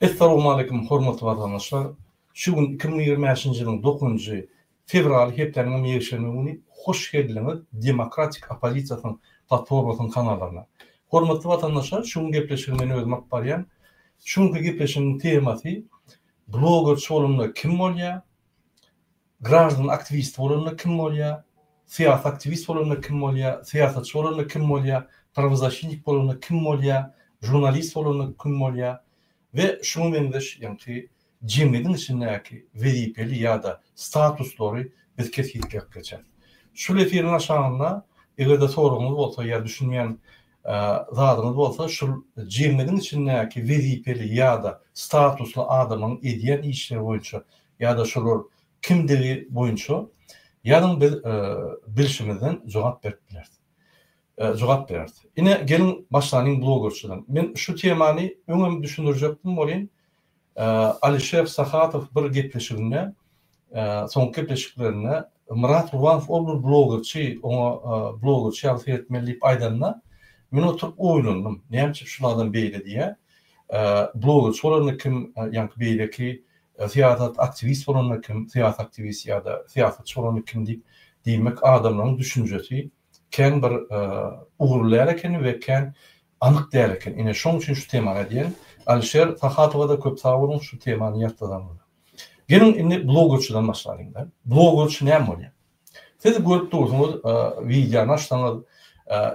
Essalowmaleýkum hormatly watandaşlar! Şu gün iki müň ýigrimi bäşinji ýylyň dokuzynjy fewraly hepdäniň hem ýekşenbe güni hoş geldiňiz Demokratik Oppozisiýasynyň platformasynyň kanallaryna. Hormatly watandaşlar şu gün gepleşigi men özüm alyp barýan. Şu günki gepleşigiň temasy Blogerçi bolanda kim bolýar? Graždan aktiwisti bolanda kim bolýa, syýasy aktiwist bolanda kim bolýa, syýasatçy bolanda kim bolýa, prawozaşitnik bolanda kim bolýa, žurnalist bolanda kim bolýa we şuňa meňzeş ýaňky jemgyýetiň içindäki wezipeli ýa-da statuslary biz kesgitläp geçeris. Şul efiriň aşagynda eger-de soragyňyz bolsa ýa düşünýän zadyňyz bolsa şul jemgyýetiň içindäki wezipeli ýa-da statusly adamyň edýän işleri boýunça ýa-da şolar kimdigi boýunça ýazyň biz bilşimizden jogap berip bileris jogap bereris. Ine geliň başlanyň blogerçydan. Men şu temany öňem düşündirjekdim welin Alişer Sahatow bir gepleşiginde, soňky gepleşiklerinde Myrat Gurbanov ol bir blogerçi, oňa blogerçi ýaly seretmeli diýip aýdanda, men oturyp oýlandym, näme üçin şul adam beýle diýýär? Blogerçi bolanda kim, ýaňky beýleki syýasat aktiwist bolanda kim, syýasy aktiwist ýa-da syýasatçy bolanda kim diýip, diýmek adamlaryň düşünjesi kän bir ugur däl ekeni we kän Anyk däl eken. Ine şoň üçin şu temany edýän. Alişer Sahadowa-da köp sag boluň şu temany ýatladanyňyza. Geliň indi blogerçiden başlalyň-da. Blogerçi näme bolýar? Siz görüp dursuňyz wideony açsaňyz,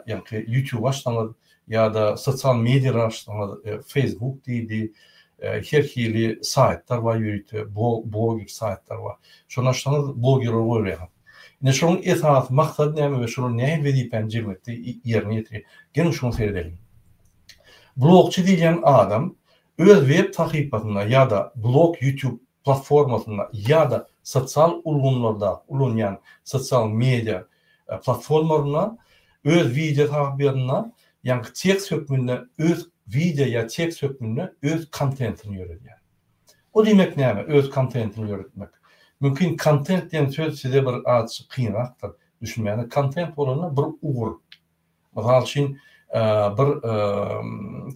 ýaňky ýutube açsaňyz ýa-da sosial mediýalary açsaňyz, Facebook diýdi, her hili saýtlar bar ýörite, blogger saýtlar bar. Şony açsaňyz blogerleri görýäňiz. Indi şunuň esasy maksady näme we şular nähili wezipäni jemgyýetde ýerine ýetirýär? Geliň şuňa seredeliň. Blogçy diýilýän adam öz web sahypasynda ýa-da blog YouTube platformasynda ýa-da sosial ulgamlarda ulanýan sosial media platformalarynda öz wideo sahypasynda ýaňky tekst hökmünde öz wideo ýa tekst hökmünde öz kontentini ýöredýär. O diýmek näme? Öz kontentini ýöretmek. Mümkin kontent diýen söz size bir azçyk kynrakdyr düşünmäne. Kontent bolanda bir ugur. Mysal üçin bir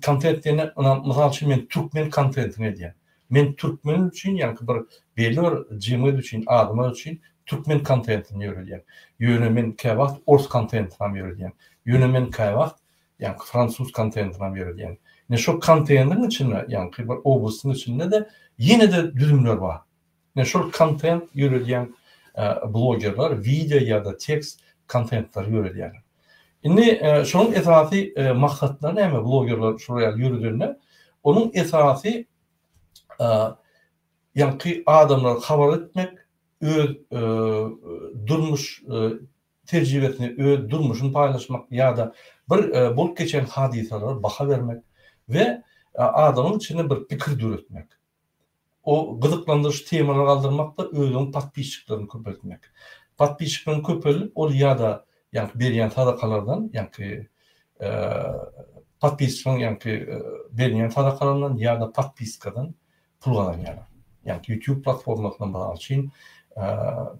kontent diýende ynam mysal üçin men türkmen kontentini edýän. Men türkmen üçin ýaňky bir belli bir jemgyýet üçin adamlar üçin türkmen kontentini ýöredýän. Ýöne men käwagt ors kontentini hem ýöredýän. Ýöne men käwagt ýaňky fransuz konteýneram ýöredýän. Ine şol konteýneriň içinde, ýaňky bir obusyň içinde-de ýene-de düzümler bar. Ine şol kontent ýöredýän blogerler wideo ýa-da tekst kontentlary ýöredýärler. Indi şonuň esasy maksatlary näme blogerler şular ýaly ýöredende? Onuň esasy ýaňky adamlary habar etmek, öz durmuş tejribesini, öz durmuşyny paýlaşmak ýa-da bir bolup geçen hadysalara baha bermek we adamyň içinde bir pikir döretmek, o gyzyklandyryjy temalary galdyrmakda özüň podpisçiklerini köpeltmek. Podpisçikleň köpelip ol ýa-da ýaňky berýän sadakalardan, ýaňky podpisçiň ýaňky berýän sadakalaryndan ýa-da podpiskadan pul gazanýarlar. Ýagny YouTube platformasyndan mysal üçin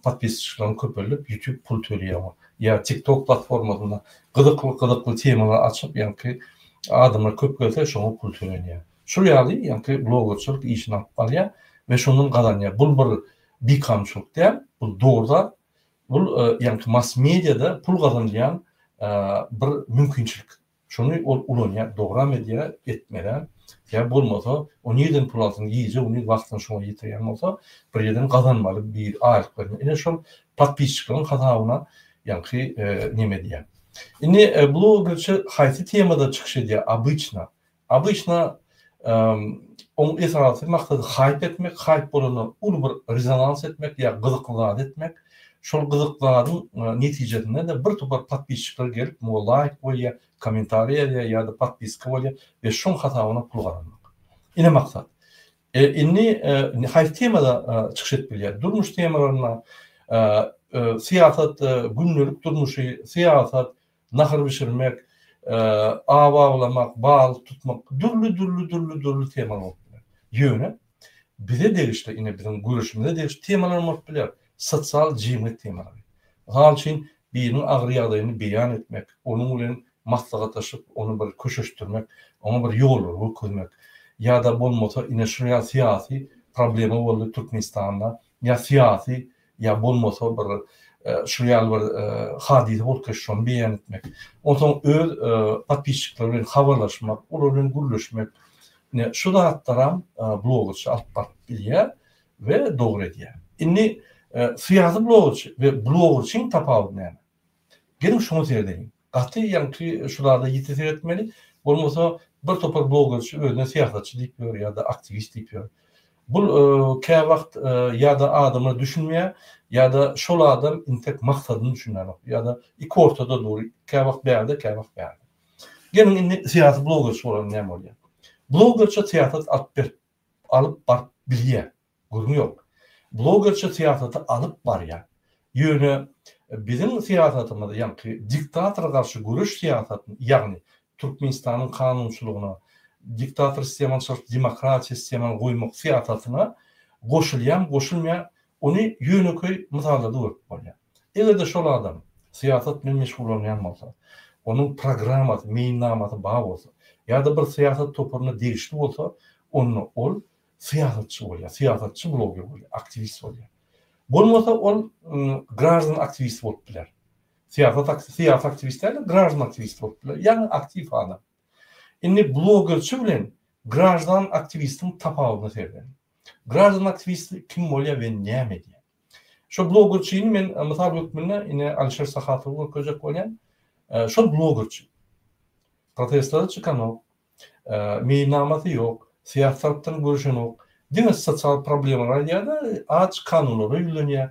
podpisçilikleň köpelip YouTube pul töleýär. Ýa TikTok platformasynda gyzykly gyzykly temalar açyp ýagny adamlar köp gelse şoňa pul tölenýär. Şul ýaly ýagny blogerçilik işini alyp barýar we şondan gazanýar. Bul bir bikamçylyk däl, bul dogry zat. Bul ýagny mass mediada pul gazanylýan bir mümkinçilik. Şony ol ulanýar, dogram edýär, etmezem. Ýa bolmasa, o nirden pul alsyn, gije gündiz wagtyny şoňa ýetirýän bolsa, bir ýerden gazanmaly bir aýlyk bermeli. Ine şol podpisçikleriň hasabyna ýaňky neme edýär. Indi blogerçi haýsy temada çykyş edýär obyçna? Obyçna Oň esasy maksady haýp etmek, haýp bolanda uly bir rezonans etmek ýa gyzykly zat etmek. Şol gyzykly zadyň netijesinde-de bir topar podpisçikler gelip muňa laýk goýýa, kommentariý edýä ýa-da podpiska bolýa we şoň hasabyna pul gazanmak. Ine maksat. Indi haýsy temada çykyş edip bilýär? Durmuş temalarynda syýasat, gündelik durmuşy, syýasat, nahyr bişirmek, aw awlamak, balyk tutmak, dürli dürli dürli dürli temalar bolup biler. Ýöne bize degişli, ine biziň göreşimize degişli temalar bolup biler, sosial jemgyýet temalary. Mysal üçin, biriniň agyr ýagdaýyny beýan etmek, onuň bilen maslahatlaşyp, ony bir köşeşdirmek, oňa bir ýollary görkezmek ýa-da bolmasa ine şunuň ýaly syýasy problema boldy Türkmenistanda ýa syýasy ýa bolmasa bir şul ýaly bir hadysa bolup geçse şony beýan etmek, onsoň öz podpisçikleri bilen habarlaşmak, olar bilen gürleşmek, ine şu zatlaram blogerçy alyp baryp bilýär we dogry edýär. Indi syýasy blogerçy we blogerçyň tapawudy näme? Geliň şuňa seredeýin. Gaty ýaňky şu zada ýiti seretmeli, bolmasa bir topar blogerçi özüne syýasatçy diýip ýör ýa-da aktiwist diýip ýör. Bul käwagt ýa-da adama düşünmeýär, ýa-da şol adam intek maksadyny düşünýänok, ýa-da iki ortada dur, käwagt bärde, käwagt bärde. Geliň indi syýasy blogerçi bolalyň näme bolýar. Blogerçi syýasat alyp berip, alyp baryp bilýär. Gürrüň ýok. Blogerçe syýasaty alyp barýa. Ýöne biziň syýasatymyz ýaňky diktatora garşy göreş syýasatyny, ýagny Türkmenistanyň kanunçylygyna diktator sistemany çalşyp demokratiýa sistemany goýmak syýasatyna goşulýamy goşulmaýa ony ýönekeý mysallarda görüp bolýa. Eger-de şol adam syýasat bilen meşgullanýan bolsa, onuň programmasy, meýilnamasy bar bolsa, ýa-da bir syýasat toparyna degişli bolsa, onda ol syýasatçy bolýar, syýasatçy bloger bolýar, aktiwist bolýar. Bolmasa ol graždan aktiwist bolup biler. Syýasat aktiwist, syýasy aktiwist däl, graždan aktiwist bolup biler. Ýagny aktiw adam. Indi blogerçi bilen graždan aktiwistiň tapawudyna seredin. Graždan aktiwist kim bolýar we näme edýär? Şu blogerçini men e, mysal hökmünde ine Alişer Sahatowy görkezjek bolýan. E, şol blogerçi. Protestlere çykanok, Meýilnamasy ýok, syýasatdan görüşenok, diňe sosial problemalary aýdýar-da, aç kanunlara ýüzlenýär,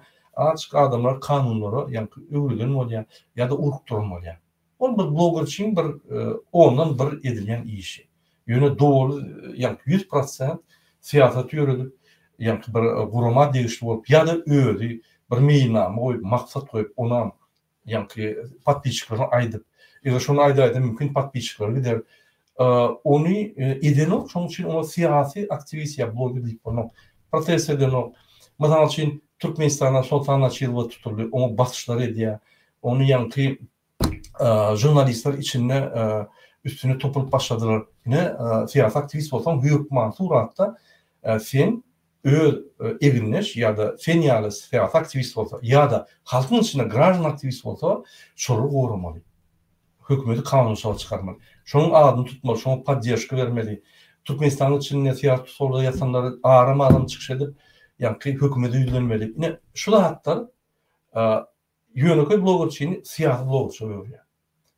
aç adamlar kanunlara ýaňky öwrülen bolýar ýa-da urukdyran bolýar. Ol bir blogerçiň bir ondan bir edilýän işi. Ýöne doly ýaňky ýüz prosent syýasaty ýöredip, ýaňky bir gurama degişli bolup ýa-da özi bir meýilnama goýup, maksat goýup, onam Ýaňky podpisçikleriň aýdyp. Eger şony aýdaýda mümkin podpisçikleri gider. Ony edenok şoň üçin oňa syýasy aktiwist ýa bloger diýip bolmaz. Protest edenok. Mysal üçin Türkmenistana Soltan Açylowa tutuldy. Oňa basyşlar edýär. Ony ýaňky žurnalistler içinde üstüne topulyp başladylar. Ine syýasy aktiwist bolsaň hökman suratda sen öz egindeş ýa-da sen ýaly syýasy aktiwist bolsa ýa-da halkyň içinde graždan aktiwist bolsa, şolary goramaly. Hökümeti kanunçylyga çykarmaly. Şonuň adyny tutmaly, şoňa podderžka bermeli. Türkmenistanyň içinde syýasy tussaglyga ýatanlary aram-aram çykyş edip, ýaňky hökümete ýüzlenmeli. Ine, şu zatlar ýönekeý blogerçini syýasy blogerça öwürýär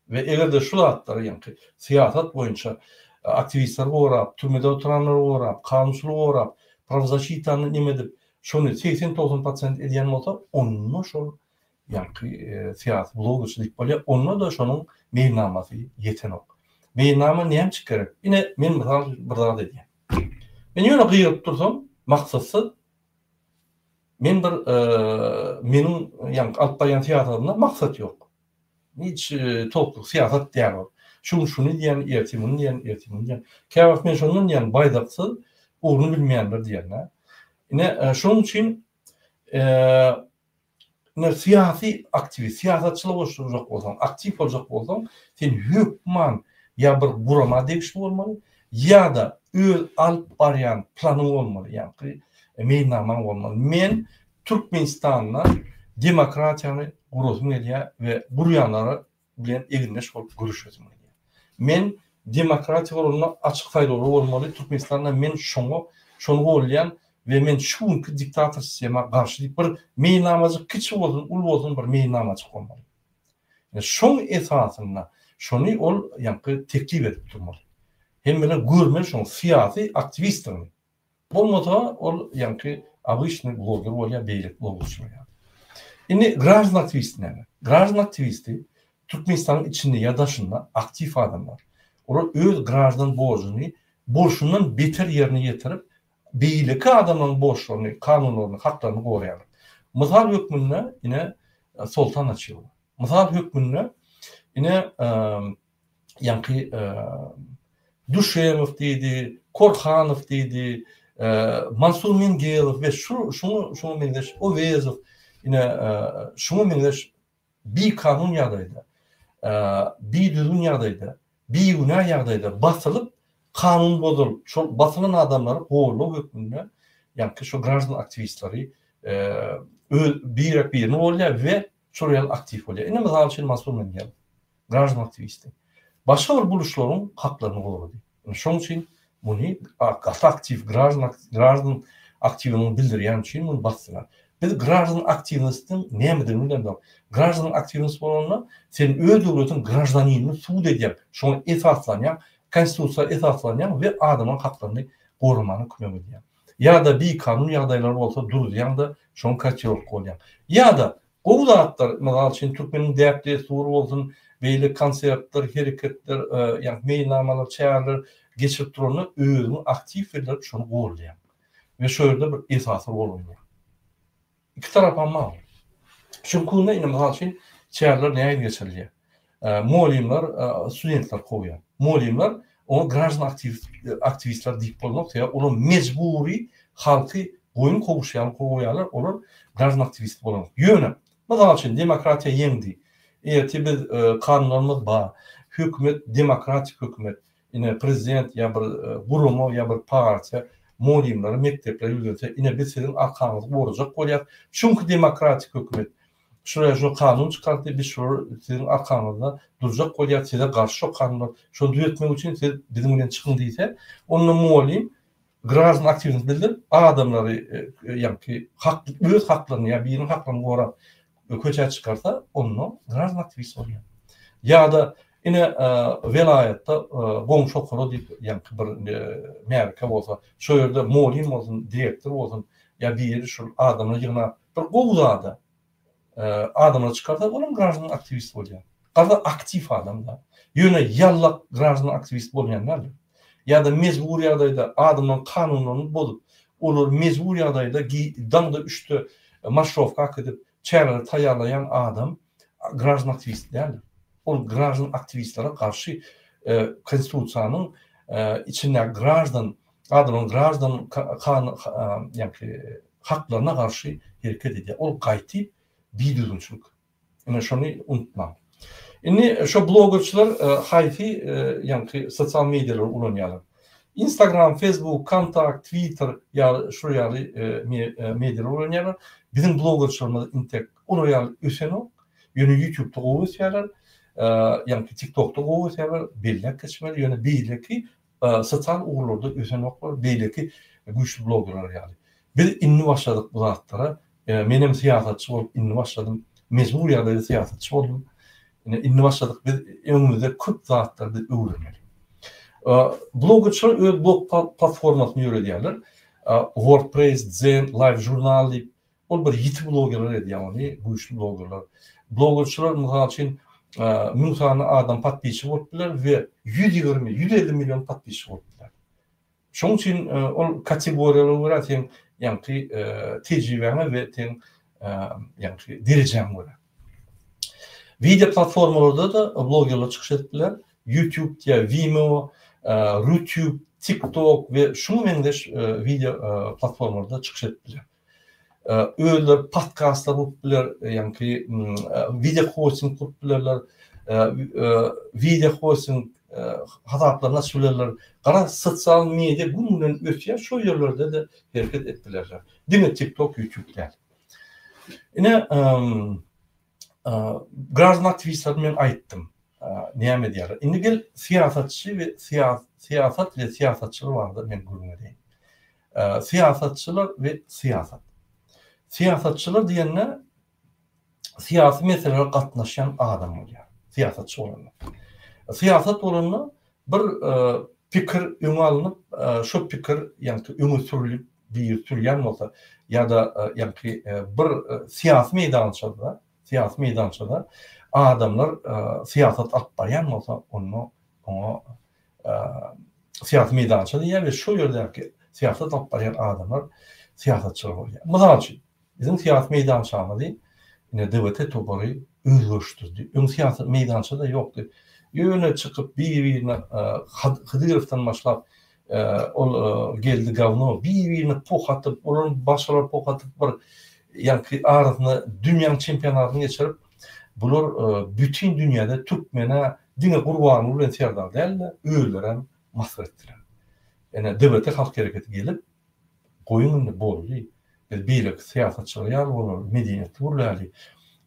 we eger-de şu zatlary, ýaňky syýasat boýunça aktiwistleri gorap, türmede oturanlary gorap, kanunçylygy gorap, prawzaşitany neme edip, şony segsen-togsan prosent edýän bolsa, onda şol ýaňky syýasy blogerçi diýip bolýar, onda-da şonuň meýilnamasy ýetenok. Meýilnama näme üçin gerek? Ine, men mysal üçin bir zat edýän. Men ýöne gygyryp dursam, maksatsyz Men bir meniň ýaňky alyp barýan syýasatymda maksat ýok. Hiç toplyk syýasat däl ol. Şu gün şuny diýýän, ertir muny diýýän, ertir muny diýýän. Käwagt men şondan diýýän baýdaksyz ugruny bilmeýänler diýýän-dä. Ine şonuň üçin Ine, syýasy aktiwist, syýasatçylyk goşuljak bolsaň, aktiw boljak bolsaň, sen hökman ýa bir gurama degişli bolmaly, ýa-da öz alyp barýan planyň bolmaly, ýaňky meýilnamaň bolmaly. Men Türkmenistanda demokratiýany gurasym gelýär we gurýanlara bilen egindeş bolup göreşesim gelýär. Men demokratiýa guralynda açyk saýlawlar bolmaly, Türkmenistanda men şoňa şony gollaýan we men şu günki diktator sistema garşy diýip bir meýilnamajyk kiçi bolsun uly bolsun bir meýilnamajyk bolmaly. Ýa şoň esasynda şony ol ýaňky teklip edip durmaly. Hemmeler görmeli şoň syýasy aktiwistdigini. Bolmasa ol ýaňky obyçnyý bloger bolýar beýleki blogerçiler ýaly. Indi graždan aktiwisti näme? Graždan aktiwisti Türkmenistanyň içinde ýa daşynda aktiw adamlar. Olar öz graždan borjuny bolşundan beter ýerine ýetirip beýleki adamlaryň borçlaryny, kanunlaryny, haklaryny goraýarlar. Mysal hökmünde ine Soltan Açylow. Mysal hökmünde ine ýaňky Duşemow diýdi, Korhanow diýdi, Mansur Mingelow we şuňa meňzeş Owezow ine şuňa meňzeş bikanun ýagdaýda, bidüzgün ýagdaýda, bigünä ýagdaýda basylyp, kanun bozulyp, şol basylan adamlary goldaw hökmünde ýaňky şu graždan aktiwistleri birek-birini goldaýar we Şol ýaly aktiw bolýar. Indi mysal üçin Mansur Menýerow, graždan aktiwisti. Başga bir buluşlaryň haklaryny gorady. Indi şoň üçin muny gaty aktiw graždan graždan aktiwini bildirýän üçin muny basdylar. Biz graždan aktiwnistiň nämedigini bilemzok. Graždan aktiwnist bolanda sen öz döwletiň graždanynyny subut edýäň, şoňa esaslanýaň, konstitusiýa esaslanýaň we adamyň haklaryny goramana kömek edýäň. Ýa-da bikanun ýagdaýlar bolsa duruzýaň-da, şoň kotýorka bolýaň. Ýa-da, gowy zatlar, mysal üçin, türkmeniň däp-dessury bolsun, beýle konsertler, hereketler, ýagny meýilnamalar, çäreler geçirip duranda özüňi aktiw bildirip, şony goldaýaň we şo ýerde bir esasy rol oýnaýaň. Iki tarapam bar. Şuň kunda indi mysal üçin çäreler nähili geçirilýär? Mugallymlar studentleri kowýar. Mugallymlar oňa graždan aktiwistler diýip bolmaz, sebäbi olar mejbury halky goýun kowuşy ýaly kowýarlar, olar graždan aktiwisti bolan. Ýöne, mysal üçin, demokratiýa ýeňdi. Ertir biz kanunlarymyz bar. Hökümet demokratik hökümet. Ine prezident ýa bir gurama ýa bir partiýa mugallymlary mekdeplere ýüzlense ine biz siziň arkaňyzy gorajak bolýas çünki demokratik hökümet şuraya şu kanun çykardy biz şular siziň arkaňyzda durjak bolýas size garşy şo kanunlar şony düzetmek üçin siz biziň bilen çykyň diýse onda mugallym Graždan aktiwlik bildirip, adamlary ýaňky hak öz haklaryny ýa biriniň haklaryny gorap köçä çykarsa, onda graždan aktiwist bolýar. Ýa-da ine welaýatda goňşy okara diýip ýaňky bir märekä bolsa, şo ýerde molin bolsun, direktor bolsun ýa biri şul adamlary ýygnap, bir gowy zada, adamlar çykarsa olam graždan aktiwist bolýar. Gaza aktiw adam da. Ýöne ýallak graždan aktiwist bolmaýan däldir. Ýa-da mejbur ýagdaýda adamlaryň kanunlaryny bozup, olary mejbur ýagdaýda daňda üçde marşrowka akydip çäreleri taýýarlaýan adam graždan aktiwist däldir. Ol graždan aktiwistlere garşy konstitusiýanyň içindäki graždan Adamyň graždan ýa-ki haklaryna garşy hereket edýär. Ol gaýty bidüzgünçilik. Ine şony unutmaň. Indi şo blogerçiler haýsy ýa-ki sosial medialary ulanýarlar? Instagram, Facebook, Kontakt, Twitter ýaly şu ýaly medialary ulanýarlar. Biziň blogerçilerimiz intek olar ýaly ösenok. Ýöne ýutubda gowy ösýärler. Ýa-ki tiktokda gowy ösýärler. Belläp geçmeli. Ýöne beýleki Sosial ugurlarda ösenoklar beýleki güýçli bloggerler ýaly. Biz indi başladyk bu zatlara. Menem syýasatçy bolup indi başladym. Mejbur ýagdaýda syýasatçy boldum. Ine indi başladyk biz. Öňümizde köp zatlar biz öwrenmeli. Bloggerçiler öz blog platformasyny ýöredýärler. Wordpress, Zen, Live Journal diýip Ol bir ýiti blogerler edýär ony, güýçli blogerler. Blogerçiler mysal üçin müň sany adam podpisçi bolup biler we ýüz ýigrimi, ýüz elli million podpisçi bolup biler. Şoň üçin ol kategoriýalara görä seň ýaňky tejribäňe we seň ýaňky derejäňe görä. Wideo platformalarda-da blogerler çykyş edip biler. YouTube ýa Vimeo, Rutube, TikTok we şuňa meňzeş wideo platformalarda çykyş edip biler. Özleri podkastlar gurup biler, ýaňky wideo hosting gurup bilerler, wideo hosting hasaplaryny açyp bilerler. Garaň, sosial media gün-günden ösýär, şol ýerlerde-de hereket edip bilerler. Diňe TikTok, YouTube däl. Ine, graždan aktiwistlere men aýtdym, näme edýärler. Indi gel syýasatçy we syýasat we syýasatçylar barada men gürrüň bereýin. Syýasatçylar we syýasat. Syýasatçylar diýende syýasy meselelere gatnaşýan adam bolýar. Syýasatçy bolanda. Syýasat bolanda bir e, pikir öňe alnyp, e, şu pikir ýagny öňe sürülip, bir sürýän bolsa ýa-da e, ýagny bir syýasy meýdançada Syýasy meýdançada adamlar syýasat alyp barýan bolsa, onda oňa syýasy meýdança diýýär we şol ýerdäki syýasat alyp barýan adamlar syýasatçylar bolýar. Mysal üçin, biziň syýasy meýdançamyzy ine DWT topary özgerişdirdi. Öň syýasy meýdança-da ýokdy. Ýöne çykyp bir-birine Hydyrowdan başlap Ol geldi gawno bir birini puh atyp olar başalar puh atyp bir ýaňky arasyna dünýäň çempionatyn geçirip bular bütin dünýäde türkmene diňe gurbanguly bilen serdar dälde özlerem masyr etdiler ene dbt halk hereketi gelip goýuň indi boldy biz beýleki syýasatçylar ýaly bolaly medeniýetli gürläli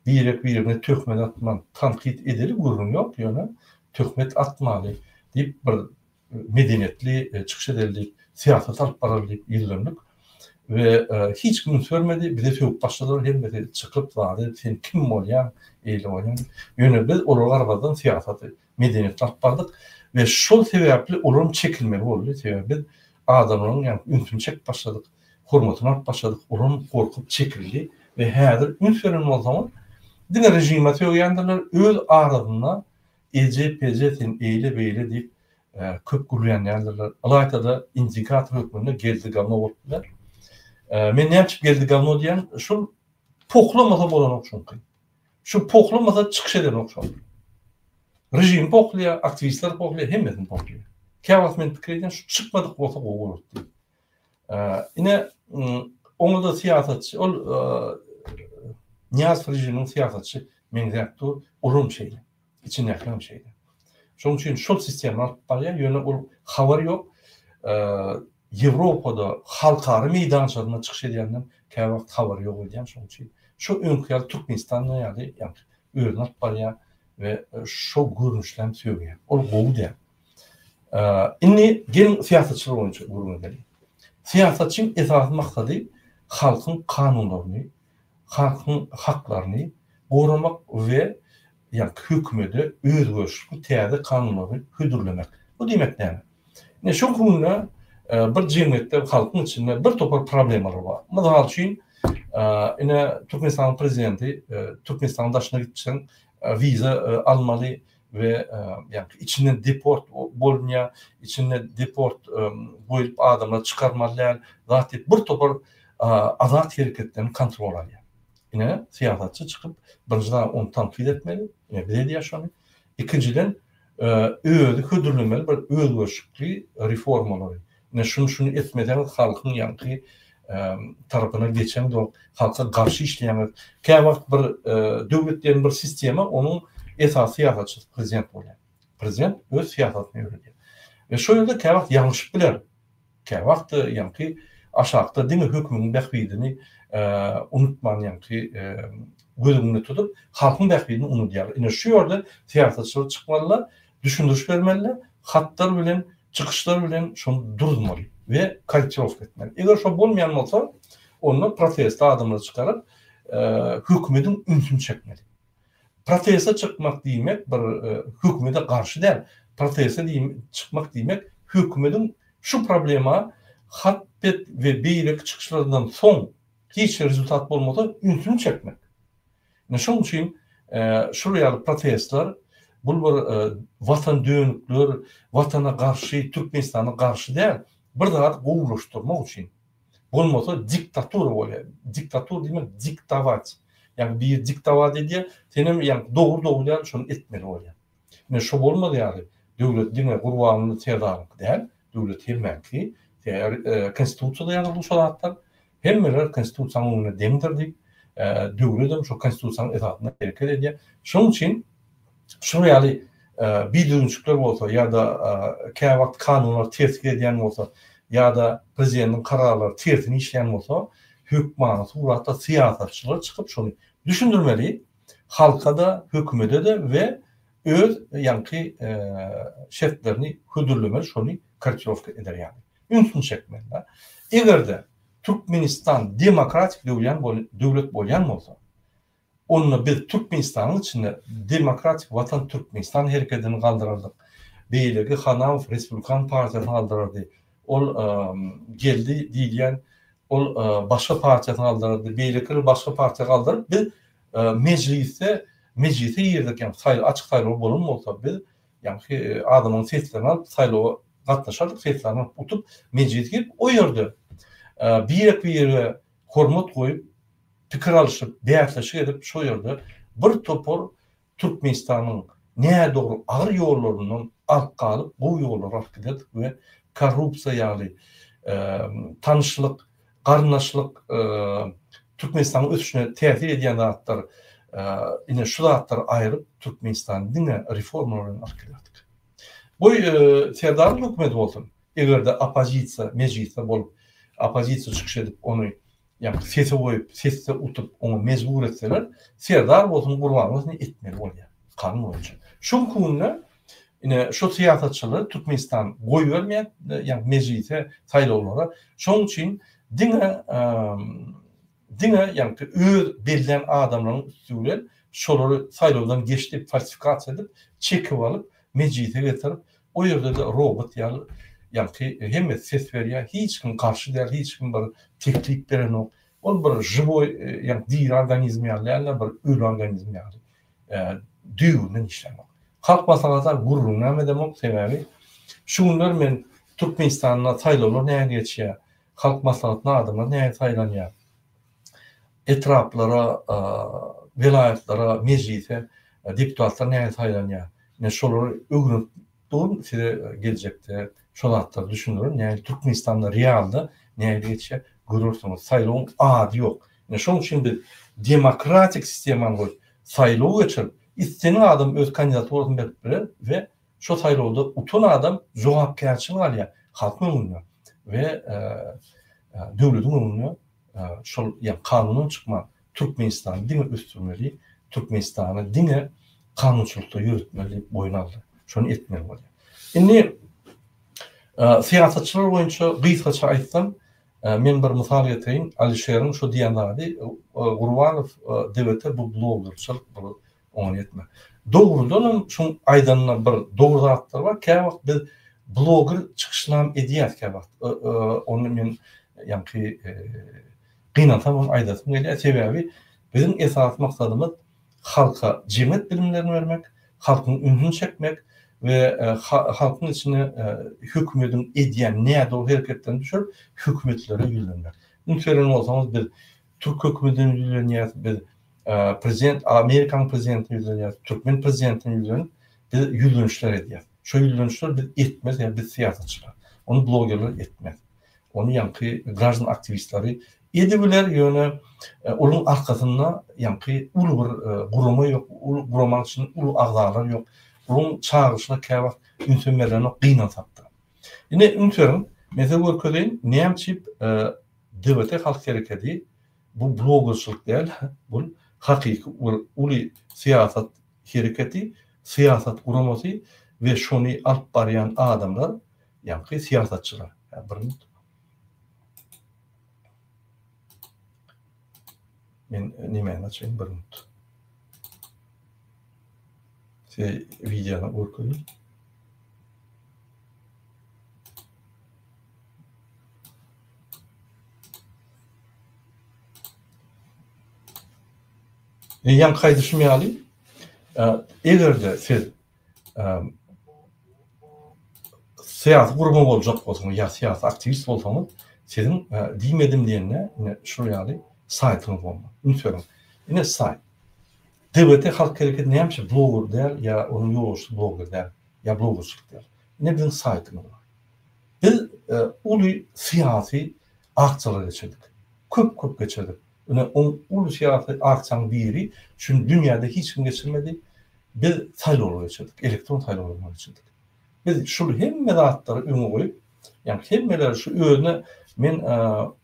birek birine töhmet atman tankyt edeli gürrüň ýok ýöne töhmet atmaly diýip bir medeniýetli çykyş edelidik, syýasat alyp bararlyk ýüzlendik we hiç kim üns bermedi, bize sögüp başladylar, hemmesi çykyp zady sen kim bolýaň, eýle bolýaň diýip. Ýöne biz olara garamazdan syýasaty, medeniýeti alyp bardyk we şol sebäpli olaram çekilmeli boldy, sebäbi biz adamlaryň ýaňky ünsüni çekip başladyk, hormatyny alyp başladyk, olaram gorkup çekildi we häzir üns beren bolsaňyz diňe režime sögýändirler, öz arasynda Eje peje sen eýle beýle diýip köp gürlänýändirler. Ylaýta-da indikator hökmünde Geldi gavno bolup biler. Men näme üçin Geldi gavno diýýän, şul pohlamasa bolanok çünki. Şu pohlamasa çykyş edenok şol. Režim pohlaýar, aktiwistler pohlaýar, hemmesini pohlaýar. Käwagt men pikir edýän şu çykmadyk bolsa gowy bolardy diýip. Ine, oňa-da syýasatçy, ol Nyýazow režiminiň syýasatçy meňzäp dur, olam şeýle, içindäkiler hem şeýle. Şonuň üçin şol sistema alyp barýar, ýöne ol habar ýok. Ýewropada, halkara meýdançasynda çykyş edýänden kä wagt habar ýok öýdýän, şonuň üçin şu öňki ýaly Türkmenistanda ýaly, ýagny özüni alyp barýar we şol görnüşli hem söýýär. Ol gowy däl, Indi geliň syýasatçylar boýunça gürrüňe geliň. Syýasatçyň esasy maksady halkyň kanunlaryny, halkyň haklaryny goramak we ýa-da hökümede özgerişli täze kanunlary hödürlemek. Bu diýmek näme? Ine şol günde bir jemgyýetde halkyň içinde bir topar problemalar bar. Mysal üçin, ine Türkmenistanyň prezidenti Türkmenistanyň daşyna gitseň wiza almaly, we ýa-da içinden deport bolunýar, içinde deport goýup adamlary çykarmaly däl, zat diýip bir topar azat hereketlerini kontrol alýar. Ine syýasatçy çykyp birinji zat ony tankyt etmeli, ine biz edýäs şony. Ikinjiden özi hödürlemeli bir özgerişikli reformalary. Ine şuny şuny etmeseňiz halkyň ýaňky tarapyna geçeňzoň halka garşy işleýäňiz. Käwagt bir döwlet diýen bir sistema onuň esasy syýasatçysy prezident bolýar. Prezident öz syýasatyny ýöredýär. We şo ýerde käwagt ýalňyşyp biler. Käwagt ýaňky aşakda diňe hökümiň bähbidini unutman ýaňky göz öňünde tutup halkyň bähbidini unudýar. Ine şu ýerde syýasatçylar çykmalylar Düşündiriş bermeli, hatlar bilen, çykyşlar bilen şony duruzmaly we korrektirowka etmeli. Eger şo bolmaýan bolsa, onda proteste adamlary çykaryp, hökümediň ünsüni çekmeli. Proteste çykmak diýmek bir hökümede garşy däl, proteste çykmak diýmek hökümediň şu problema hat bet we beýleki çykyşlaryndan soň hiç bir rezultat bolmasa ünsüni çekmek. Ine şoň üçin şul ýaly protestler bul bir watan dönükler watana garşy türkmenistana garşy däl bir zady gowulaşdyrmak üçin bolmasa diktatura bolýar diktatura diýmek diktować ýagny biri diktować edýär senem ýagny dogry dogry däl şony etmeli bolýar. Ine, şo bolmaz ýaly, döwlet diňe Gurbanguly serdaryňky däl, döwlet hemmäňki, Konstitusiýada ýazyldy şo zatlar, hemmeler Konstitusiýanyň öňünde deňdir diýip, döwledem şo Konstitusiýanyň esasynda hereket edýär. Şonuň üçin şular ýaly bidüzgünçilikler bolsa ýa-da käwagt kanunlar terslik edýän bolsa ýa-da prezidentiň kararlary tersine işleýän bolsa, hökmany suratda syýasatçylar çykyp şony düşündirmeli, halka-da, hökümede-de we öz ýaňky şertlerini hödürlemeli, şony korrektirowka eder ýaly, ünsüni çekmeli-de. Eger-de Türkmenistan demokratik döwlet bolýan bolsa, onda biz Türkmenistanyň içinde Demokratik watan Türkmenistan herekedini galdyrardyk, beýleki Hanaow respublikan partiýasyny galdyrardy, Ol geldi diýilýän ol başga partiýasyny galdyrdy, beýleki bir başga partiýa galdyryp biz mejlisde mejlise girdik ýa saýlaw açyk saýlaw bolan bolsa biz ýagny adamyň seslerini alyp saýlawa gatnaşardyk seslerini alyp utup mejlise girip o ýerde birek bire hormat goýup pikir alyşyp bäsleşik edip şo ýerde bir topar Türkmenistanyň nädogry agyr ýollaryndan ark galyp gowy ýollara alyp giderdik we korrupsiýa ýaly tanyşlyk, garyndaşlyk Türkmenistanyň ösüşine täsir edýän zatlar ine şu zatlary aýryp Türkmenistany diňe reformalar bilen alyp giderdik. Goý Serdaryň hökümeti bolsun, eger-de oppozisiýa mejlisde bolup oppozisiýa çykyş edip ony Ýa bir sese goýup, sesde utup, oňa mejbur etseler, Serdar bolsun, Gurban bolsun etmeli bolýar, kanun boýunça. Şu günki günde ine şu syýasatçylary Türkmenistan goýbermeýär, ýagny mejlise, saýlawlara. Şonuň üçin diňe diňe ýagny öz bellän adamlaryň üsti bilen şolary saýlawdan geçdi, falsifikasiýa edip, çekip alyp, mejlise getirip, O ýerde-de robot ýaly, ýagty hemmesi ses berýär, hiç kim garşy däl, hiç kim bir teklip berenok. Ol bir žiwoý, ýagny diri organizm ýaly däl-de, bir öli organizm ýaly, düýbünden işlänok. Halk maslahata gürrüňem edemok, sebäbi şu günler men Türkmenistanda saýlawlar näge geçýär, halk maslahatyna adamlar näge saýlanýar, etraplara, welaýatlara, mejlise deputatlar nähili saýlanýar? Men şolary öwrenip durun, size geljekde şo zatlary düşündirin, nähili Türkmenistanda realda nähili geçýär, görersiňiz. Saýlawyň ady ýok. Ine şonuň üçin biz demokratik sistemany goýup, saýlaw geçirip, islenen adam öz kandidaturasyny berip biler we Şo saýlawda utan adam jogapkärçilik alýar halkyň öňünde we döwletiň öňünde şol ýa kanundan çykman Türkmenistany diňe ösdürmeli, Türkmenistany diňe kanunçylykda ýöretmeli diýip boýun aldy. Şony etmeli bolýar. Indi syýasatçylar boýunça gysgaça aýtsam, men bir mysal getireýin, Alişeriň şo diýen zady Gurbanow DWT bu bloggerçylyk, bu Oňa ýetme. Dogrudanam şuň aýdanyna bir dogry zatlar bar. Käwagt biz bloger çykyşynam edýäs käwagt. Ony men ýaňky gynansam hem aýdasym gelýär. Sebäbi biziň esasy maksadymyz halka jemgyýet bilimlerini bermek, halkyň ünsüni çekmek we halkyň içine hökümediň edýän nädogry hereketlerini düşürip hökümetlere ýüzlenmek. Üns beren bolsaňyz biz Türk hökümedine ýüzlenýäs biz prezident Amerikanyň prezidentine ýüzlenýäs türkmen prezidentine ýüzlenip biz ýüzlenişler edýäs. Şo ýüzlenişler biz etmez ýa biz syýasatçylar. Ony blogerler etmez. Ony ýaňky graždan aktiwistleri edibiler ýöne onuň arkasynda ýaňky uly bir gurama ýok. Uly gurama içinde uly agzalar ýok. Onuň çagyryşyna käwagt ünsem berlenok gynansakda. Ine üns beriň. Men size görkezeýin näme üçin DBT Halk Herekedi bu blogerçilik däl, bul hakyky bir uly syýasat hereketi, syýasat guramasy we şony alyp barýan adamlar, ýaňky syýasatçylar. Hä, bir minut. Men nemäni açaýyn, bir minut. Size wideony görkezýän. Ýaňky aýdyşym ýaly, eger-de siz syýasy gurama boljak bolsaňyz ýa syýasy aktiwist bolsaňyz, siziň diýmedim diýende ine şol ýaly saýtyňyz bolmaly. Üns beriň, ine saýt. DBT halk hereketi näme üçin bloger däl ýa onuň ýolbaşçysy bloger däl ýa blogerçilik däl? Ine biziň saýtymyz bar. Biz uly syýasy akçalar geçirdik. Köp-köp geçirdik. Ine, oň uly syýasy akçaň biri, şuny dünýäde hiç kim geçirmedi, biz saýlawlar geçirdik, elektron saýlawlary geçirdik. Biz şul hemme zatlary öňe goýup, ýagny hemmeler şu özüne men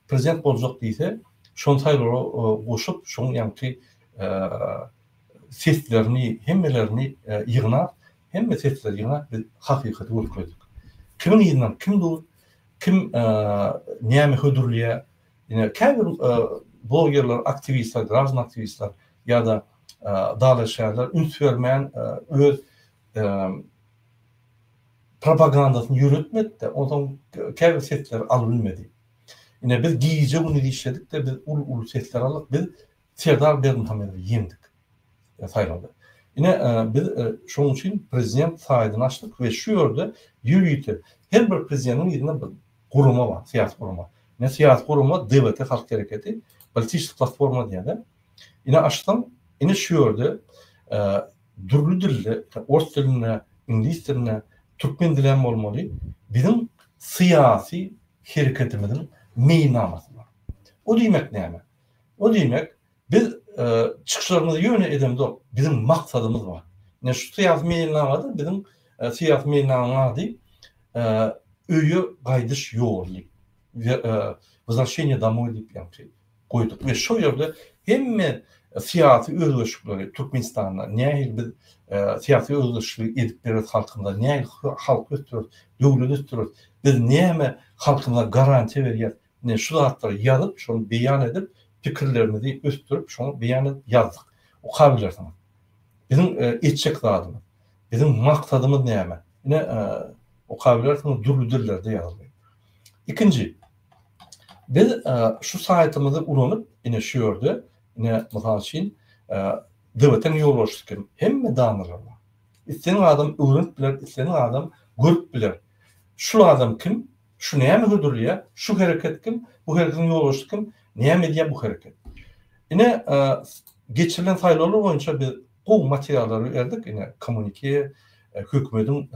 prezident boljak diýse, şony saýlawlara goşup, şoň ýaňky seslerini, hemmelerini ýygnap, Hemme sesler ýyňa biz hakykaty görkezdik. Kimiň yzyndan kim dur, kim näme hödürleýär. Ine käbir blogerler, aktiwistler, graždan aktiwistler ýa-da dalaşgärler üns bermän öz propagandasyny ýöretmedi-de, onsoň käbir sesleri alybilmedi. Ine biz gije-gündiz işledik-de, biz uly-uly sesler aldyk, biz Serdar Berdimuhamedowy ýeňdik saýlawda. Ine, biz şonuň üçin prezident saýtyny açdyk we şu ýerde ýörite her bir prezidentiň yzynda bir gurama bar, syýasy gurama. Ine, syýasy gurama DBT Halk Hereketi, Politiçi Platforma diýýärler. Ine, açsaň, ine şu ýerde dürli dilde, ors dilinde, iňlis dilinde, türkmen dili hem bolmaly, biziň syýasy hereketimiziň meýilnamasy bar. O diýmek näme? O diýmek, biz çykyşlarymyzy ýöne edemzok, biziň maksadymyz bar. Ine şu syýasy meýilnamada biziň syýasy meýilnamanyň ady Öýe gaýdyş ýoly, Wzrasheniýe damoý diýip ýaňky goýduk we şol ýerde hemme syýasy özgerişikleri Türkmenistanda nähili biz syýasy özgerişligi edip bereris halkymyza, nähili halk ösdüreris, döwlet ösdüreris, biz näme halkymyza garantiýa berýäris, Ine, şu zatlary ýazyp, şony beýan edip, pikirlerimizi ösdürip, şoňa beýan edip ýazdyk. Okabilersiňiz. Biziň etjek zadymyz, biziň maksadymyz näme? Ine, okabilersiňiz, dürli dillerde ýazyldy. Ikinji, biz şu saýtymyzy ulanyp, ine, şu ýerde, ine, mysal üçin, DBT-niň ýolbaşçysy kim? Hemme danalar bar. Isleýän adam öwrenip biler, isleýän adam görüp biler. Şul adam kim? Şu näme hödürleýär? Şu hereket kim? Bu hereketiň ýolbaşçysy kim? Näme edýär bu hereket? Ine, geçirilen saýlawlar boýunça biz gowy materiallary berdik, ine, kommunike, hökümetiň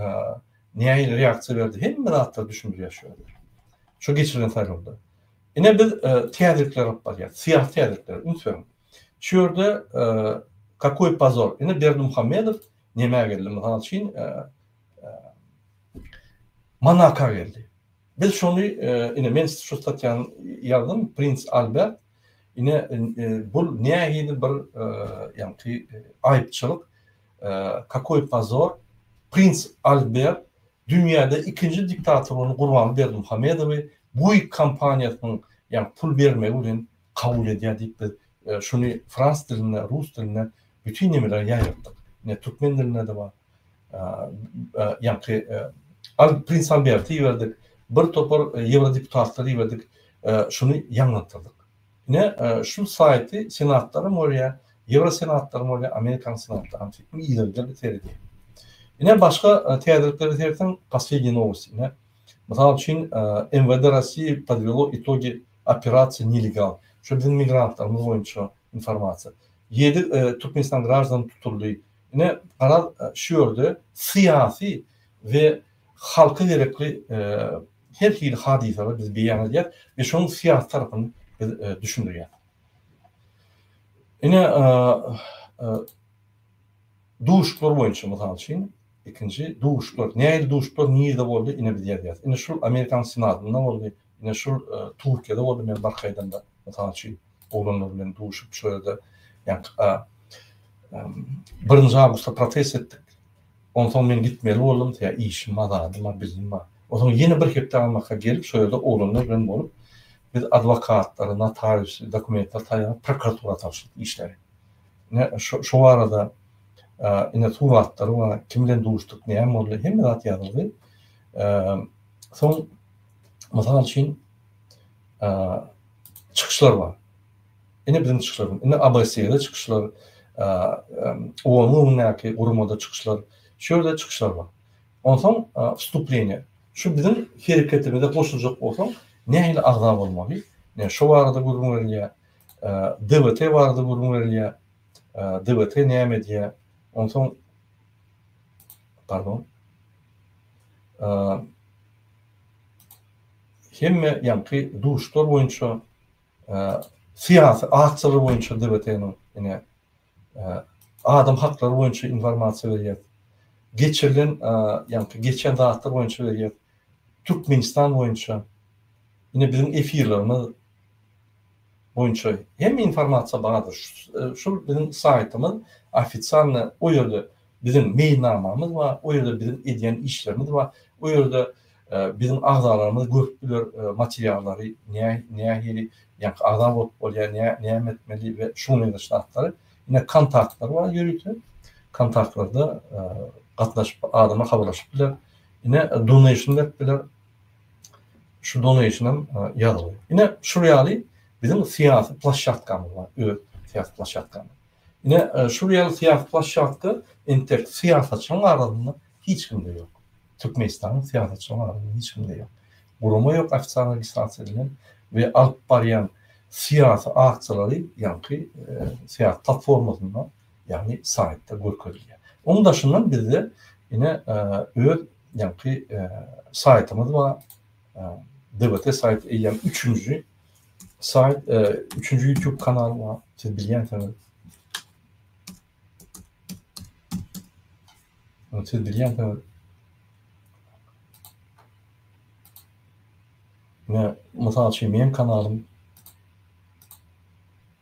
nähili reaksiýa berdi, hemme zatlary düşündirýär şu ýerde. Şu geçirilen saýlawda. Ine biz täzelikleri alyp barýarys, syýasy täzelikleri, üns beriň. Şu ýerde kakoý pozor. Ine Berdimuhamedow nämä geldi? Mysal üçin, Monaka geldi. Biz şony ine men şu statýany ýazdym, Prins Albert ine bu nähili bir ýagty aýypçylyk, kakoý pozor, Prins Albert dünýäde ikinji diktator bolan Gurbanberdi Muhammedowy Buig kompaniýasynyň ýagny pul bermegi bilen kabul edýär diýip biz şuny frans dilinde, rus dilinde bütin nemeleri ýaýratdyk. Ine türkmen dilinde-de bar. Ýaňky Prins Alberti iberdik, bir topar ýewrodeputatlar iberdik, şuny ýaňlatdyrdyk. Ine şu saýty senatlaram görýär, ýewrosenatlaram görýär, Amerikanyň senatlaram söýtdüm, ýerliler de seredýär. Ine başga täzelikleri seretsem, poslednýe nowosti. Ine mysal üçin MWD Rossiýi podwelo itogi Operasiýa nelegal. Şu biziň migrantlarymyz boýunça informasiýa. Ýedi Türkmenistan graždany tutuldy. Ine, garaz, şu ýerde syýasy we halka gerekli her hili hadysalary biz beýan edýäs we şonuň syýasy tarapyny biz düşündirýäs. Ine, duşuşyklar boýunça, mysal üçin, ikinji duşuşyklar. Nähili duşuşyklar nirede boldy? Ine, biz ýazýas. Ine, şul Amerikanyň senatynda boldy. Ine şul Türkiýede boldy men bark aýdanda mysal üçin oglanlar bilen duşup şo ýerde ýaňky birinji awgustda protest etdik. Onsoň men gitmeli boldum sebä işim bar zadym bar bizim bar. Onsoň ýene bir hepde almaka gelip şo ýerde oglanlar bilen bolup biz adwokatlary notariusy dokumentleri taýýarlap prokuratura tabşyrdyk işleri. Ine şo şo barada ine suratlary bar kim bilen duşduk näme boldy hemme zat ýazyldy. Soň Mysal üçin, çykyşlar bar. Ine biziň çykyşlarymyz. Ine ABS-de çykyşlar, OON-yň öňündäki guramada çykyşlar, şu ýerde çykyşlar bar. Onsoň wstupleniýe. Şu biziň hereketimize goşuljak bolsaň, nähili agza bolmaly? Ine şo barada gürrüň berilýär. DBT barada gürrüň berilýär. DBT näme edýär? Onsoň, pardon. Hemme ýaňky duşlar boýunça syýasy aktorlar boýunça DBT-niň ine adam haklary boýunça informasiýa berýär. Geçirilen ýaňky geçen zatlar boýunça berýär. Türkmenistan boýunça ine biziň efirlerimiz boýunça hem informasiýa bardyr. Şul biziň saýtymyz ofisialny o ýerde biziň meýilnamamyz bar, o ýerde biziň edýän işlerimiz bar, o ýerde biziň agzalarymyz görüp biler materiallary nähili ýaňky agza bolup bolýar, näme etmeli we şuňa meňzeş zatlary. Ine kontaktlar bar ýörite kontaktlarda gatnaşyp adamlar habarlaşyp biler. Ine donation berip biler. Şu donation-am ýazyldy. Ine, şul ýaly biziň syýasy plasşatkamyz bar, öz syýasy plasşatkamyz. Ine, şul ýaly syýasy plasşatka entek syýasatçylaryň arasynda hiç kimde ýok. Türkmenistanyň syýasatçylaryň arasynda hiç kimde ýok. Gurama ýok ofitsial registrasiýa edilen we alyp barýan syýasy aksiýalary ýaňky syýasy platformasynda, ýagny saýtda görkezilýär. Onuň daşyndan bizde ine öz ýaňky saýtymyz bar. DBT saýty eýýäm üçünji saýt, üçünji YouTube kanal bar. Siz bilýänsiňiz. Siz bilýänsiňiz. Ne, mysal üçin, meň kanalym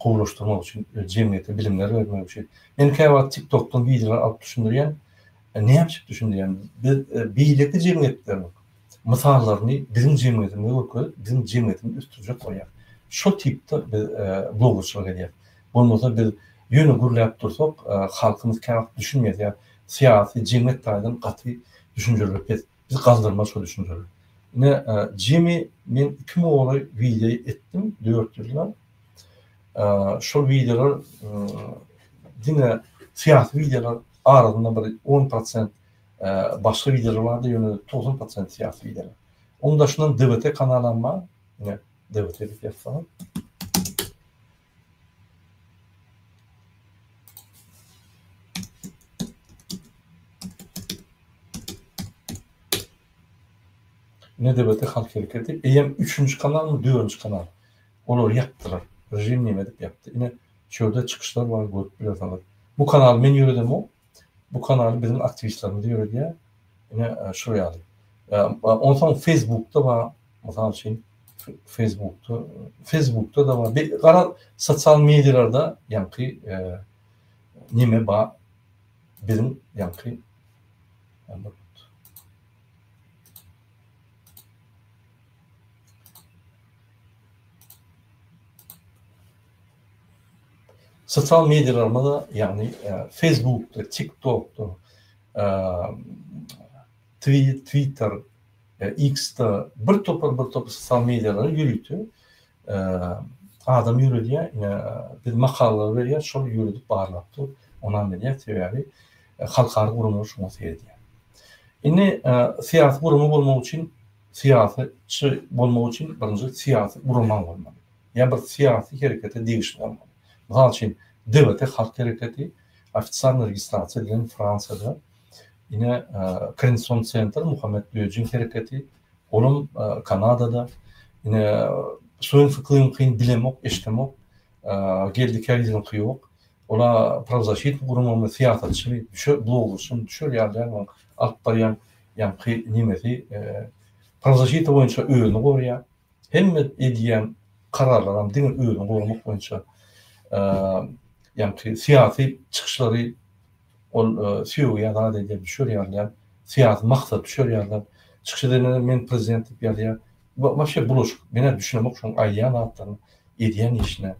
gowulaşdyrmak üçin, jemgyýete bilimler bermek üçin. Men käwagt TikTok-dan wideolar alyp düşündirýän. Näme düşündirýän? Biz beýleki jemgyýetleriň mysallaryny biziň jemgyýetimizde görkezip, biziň jemgyýetimizi ösdürjek bolýar. Şol tipde biz bloggerçylyk edýäs. Bolmasa biz ýöne gürläp dursak, halkymyz käwagt düşünmeýär. Syýasy, jemgyýet taýdan gaty düşünjeleri pes. Biz galdyrma şo düşünjeli. Ine Jimmy men iki moly video etdim dört ýylla. Şol videolar diňe syýasy videolar arasynda bir 10% başga videolar bardy, ýöne 90% syýasy videolar. Onuň daşyndan DVT kanalam bar. Ine DVT diýip ýazsaňyz. Nebiti halk hereketi eýýäm üçünji kanalmy dördünji kanal olary ýapdylar režim neme edip ýapdy ine şu ýerde çykyşlar bar görüp bilersiňiz bu kanaly men ýöredemok Bu kanaly biziň aktiwistlerimiz ýöredýär. Ine şol ýaly. Onsoň Facebookda bar, mysal üçin Facebookda, Facebookda da bar. Gara sosial medialarda ýaňky neme bar? Biziň ýaňky Sosial mediýalarymyzda, ýagny Facebookda, TikTokda, Twitter, X-de bir topar bir topar sosial mediýalary ýörite adam ýöredýär. Ine, biz makalalary berýäris, şol ýöredip barlap dur, ynam berýär. Sebäbi halkara guramalar şoňa seredýär. Indi syýasy gurama bolmak üçin, syýasatçy bolmak üçin birinji syýasy guramaň bolmaly. ýa bir syýasy herekete degişli bolmaly. Mysal üçin, DVT halk hereketi ofitsialny registrasiýa edilen Fransiýada, ine, Krenson Senter, Muhammet Böjeň hereketi, olam Kanadada, ine, Suenfi Klyňkyny bilemok, eşdemok, Geldi Käriziniňki ýok. Olar prawzasitni guramagyny syýasatçymy, düşer, blogerçymy, düşer ýaly däl onuň alyp barýan ýaňky nemesi, prawzasita boýunça özüni gorýar, Hemme edýän kararlaram diňe özüni goramak boýunça. Ýagny syýasy çykyşlary ol söýgi ýa zat edýär, düşer ýalyam, syýasy maksat düşer ýalyam. Çykyş edenlerem men prezident diýip ýazýar. Wapşe bulaşyk. Men-ä düşünemok şoň aýdýan zatlaryna, edýän işine.